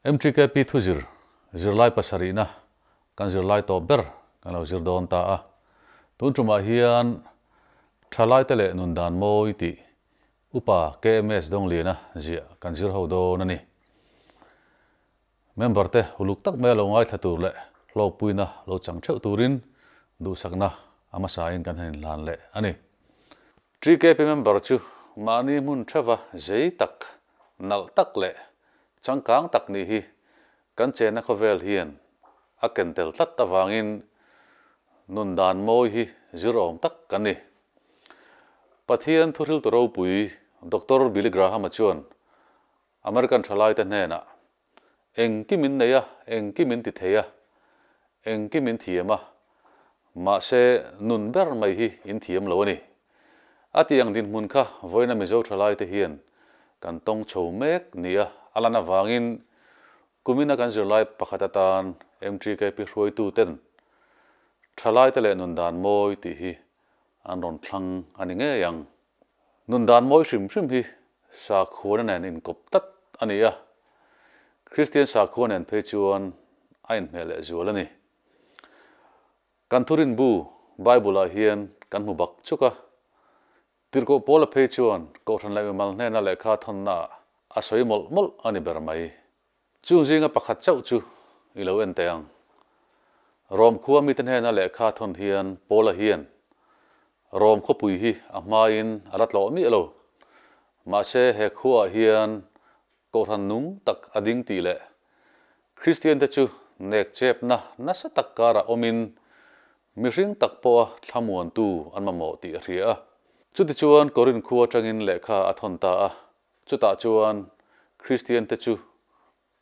Mtkp thuzir zirlai pasarihna kan zirlai tawh ber kan lo zir dawn ta a, tun tumah hian tha laite leh nun dan mawi tih Upa KMH Dawngliana zia kan zir ho dawn a ni. Member te uluk tak mai a lo ngaithla tur leh hlawkpuina lo chang theuh turin duhsakna a hmasain kan han inhlan leh a ni. GKP member chu mahni hmun theuha zei tak, nalh tak leh changkang tak nih hi kan chenna khawvel hian a ken tel tlat avangin nun dan mawi hi zir awm tak kan ni. Pathian thuhriltu ropui Doctor Billy Graham-a chuan American thalaite hnenah, Engkim in nei a, engkim in tithei a, engkim in thiam a, mahse nun ber mai hi in thiam lo a ni. A tih ang dinhmun kha vawiina Mizo thalaite hian kan tawng chho mek nia, a lan avangin Kumin a kan zirlai pakhat atan mgkp hruaituten thalaite leh nun dan mawi tih hi an rawn thlang a ni ngei ang. Nun dan mawi hrim hrim hi sakhuana nen inkawp tlat a ni a, Kristian sakhua nen phei chuan a inhmeh leh zual a ni. Kan thurinbu Bible-ah hian kan hmu bak chuk a, Tirhkoh Paula phei chuan Kohhran leh mimal hnena lehkha thawnnaah a sawi mawlh mawlh a ni ber mai. Chung zinga pakhat chauh chu i lo en teh ang. Rawm khua mite hnena lehkha thawn hian Paula hian Rawm khuapui hi a hmain a la tlawh miah lo. Mahse he khuaah hian Kohhran nung tak a ding tih leh Kristiante chu nekchepna nasa tak karah awmin Mihring tak pawha thlamuantu an mamawh tih a hria a. Chutichuan Corinth khua atangin lehkha a thawn ta a, chutah chuan Kristiante chu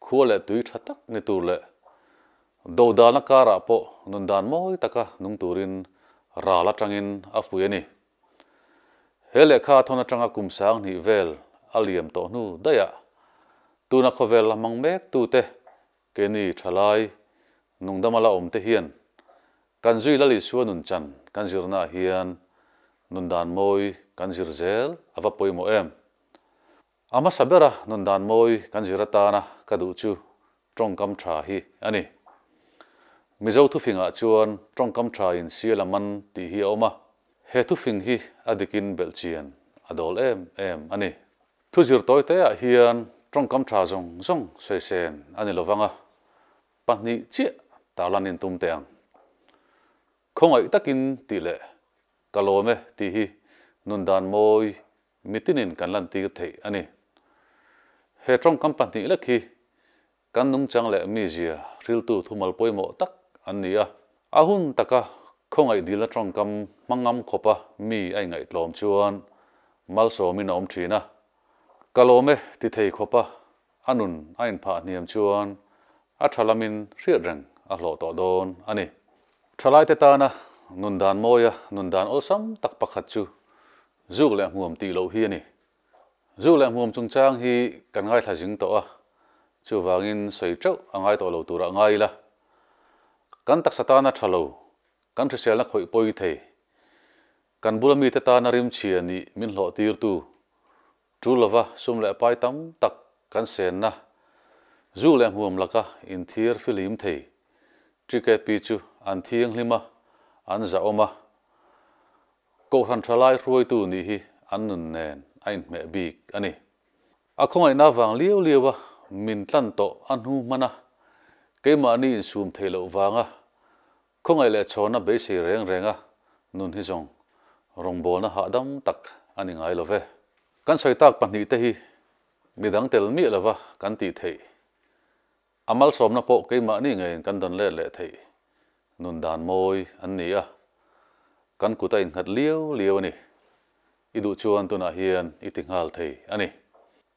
khua leh tui tha tak ni tur leh do dalna karah pawh nun dan mawi taka nung turin ral atangin a fuih a ni. He lehkha a thawn atanga kum sang hnih vel a liam tawh hnu daiah tuna khawvel a hmang mek tute Kenny thalai nungdama la awm te hian kan zui lal Isua nun chan kan zirnaah hian nun dan mawi kan zir zel a va pawimawh em? A hmasa bera nun dan mawi kan zir atana ka duh chu tawngkam tha hi a ni. Mizo thufingah chuan tawngkam tha in siala man tih hi a awm a, he thufing hi a dikin belhchian a dawl em em a ni. Thu zirtawi teah hian tawngkam tha zawng zawng sawisên a ni lo vang a, pahnih chiah tarlan in tum teh ang. Khawngaih takin tih leh ka lawm e tih hi nun dan mawi mitinin kan lantîr theih a ni. He tawngkam pahnih lek hi Kan nungchang leh mizia hriltu thumal pawimawh tak an ni a. A hun taka khawngaih dilna tawngkam hmangam khawpa mi a ingaihtlawm chuan malsawmin a awm thin a. Ka lawm e tithei khawpa a nun a inphah hniam chuan a tha lamin hriat reng a hlawh tawh dawn a ni. Thalaite tana nun dan mawia nun dan awlsam tak pakhat chu zuk leh hmuam tih loh hi a ni. Zuk leh hmuam chungchang hi kan ngaithla zing tawh a, chuvangin sawi teuh a ngai tawh lo turah ngai ila, kan taksa tana tha lo, kan hriselna khawih pawi thei, kan bula mite tana rimchhia nih min hlawhtirtu, tul lova sum leh pai tam tak kan senna, zuk leh hmuam laka inthir filim thei, Tkp chu an thianghlim a, an zahawm a, Kohhran thalai hruaitu nih hi an nun nen a inhmeh bik a ni. A khawngaihna vang lio lio a min tlan tawh a hnu hman a, keimahni insum theih loh vanga khawngaih leh chhawna beisei reng renga nun hi zawng rawngbawlna hahdam tak a ni ngai love. Kan sawitak pahnihte hi midang tel miah lova kan tih theih A malsawmna pawh keimahni ngeiin kan dawn let leh theih nun dan mawi an ni a, kan kut a innghat lio lio a ni. I duh chuan tunah hian i ti nghal thei a ni.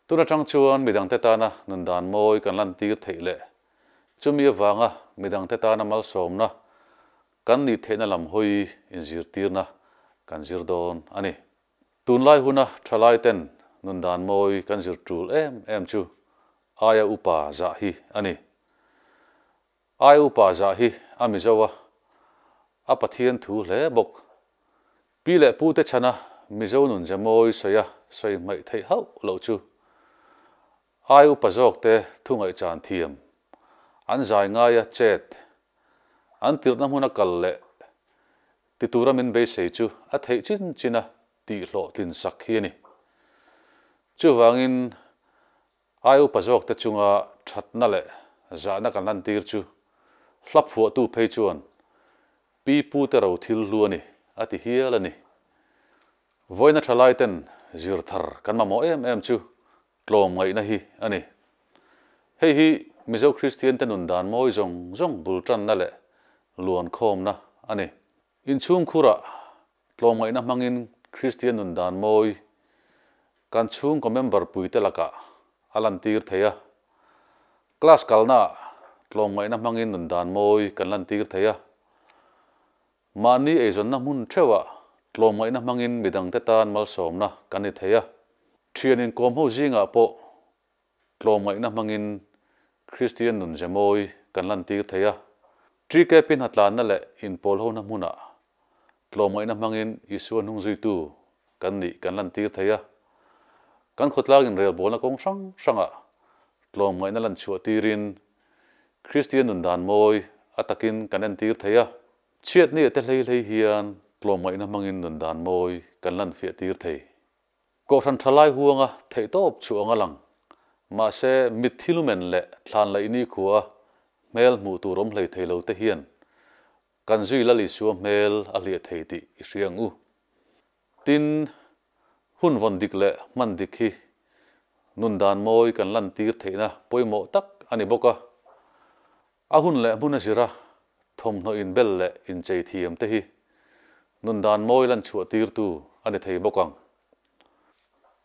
Tun atang chuan midangte tana nun dan mawi kan lantir theih leh chumi avanga midangte tana malsawmna kan nih theihna lam hawi inzirtirna kan zir dawn a ni. Tunlai huna thalai ten nun dan mawi kan zir tul em em chu aia upa zah hi a ni. Aia upa zah hi a mizo a, a Pathian thu hle bawk. Pi leh pu te chhana mizo nun ze mawi sawi a sawi hmaih theih hauh loh chu aia upa zawk te thu ngaihchan thiam an zai ngai a chet an tirhna hmuna kal leh Ti tura min beisei chu a theih chin chin a, tih hlawh tlinsak hi a ni. Chuvangin, ai upa zawkte chunga thatna leh zahna kan lan tir chu hla phuahtu phei chuan Pi Pu te ro thil hlu a ni, a ti hial a ni. Vawiina tha laiten zir thar kan mamawh em em chu tlawm ngaihna hi a ni. Hei hi Mizo Kristiante nun dan mawi zawng zawng bul tanna leh luan khawmna a ni. Inchhungkhurah tlawm ngaihna hmangin Kristian nun dan mawi kan chhungkaw member puite lakah a lantir thei a. Class kalnaah tlawm ngaihna hmangin nun dan mawi kan lantir thei a. Mahni eizawnna hmun theuhah tlawmngaihna hmangin midangte tan malsawmna kan ni thei a. Ṭhianin kawm ho zingah pawh tlawmngaihna hmangin Kristian nunzemawi kan lantir thei a. Ṭike pi hnatlanna leh inpawlhona hmunah tlawmngaihna hmangin Isua hnung zuitu kan nih kan lantir thei a. Kan khawtlak inrelbawlna kawng hrang hrangah tlawmngaihna lanchhuah tirin Kristian nundan mawi a takin kan entir thei a, chhiat ni ete hleihleih hian tlawmngaihna hmangin nundan mawi kan lanfiah tir thei. Kohhran thalai huanga theihtawp chu anga lang, mahse mitthil umen leh thlanlaih nikhua hmel hmuh tur awm hlei thei lote hian kan zui lal Isua hmel a hliah thei tih i hria ang u. Tin, hun vawn dik leh hman dik hi nun dan mawi kan lantir theihna pawimawh tak a ni bawk a. A hun leh hmuna zira thawmhnaw inbel leh inchei thiam te hi nun dan mawi lan chhuahtirtu a ni thei bawk ang.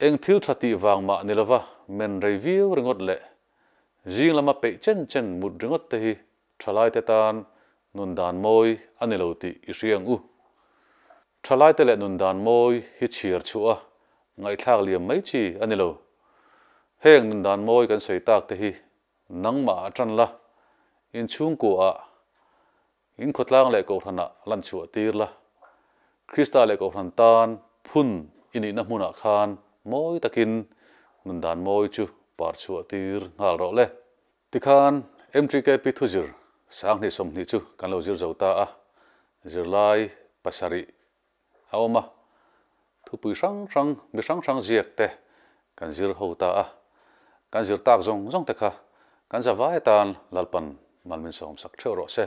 Eng thil tha tih vang mah ni lova men rei viau ringawt leh zing lama peih chen chen mut ringawt te hi thalaite tan nun dan mawi a ni lo tih i hria ang u. Thalaite leh nun dan mawi hi chhiar chhuah a ngaihthlak liam mai chi a ni lo. Heng nun dan mawi kan sawi tak te hi nangmah a tan la, in chhungkuaah, in khawtlang leh kohhranah a lan chhuah tir la. Krista leh kohhran tan phun i nihna hmunah khan mawi takin nun dan mawi chu par chhuah tir nghal rawh le. Tikhan MGKP thuzir sanghnih sawmhnih chu kan lo zir zo ta a, zirlai pasarih a awm a, thupui hrang hrang, mi hrang hrang ziak te kan zir ho ta a, kan zir tak zawng zawng te kha kan zavai atan lalpan malmin sawm sak theuh rawh se.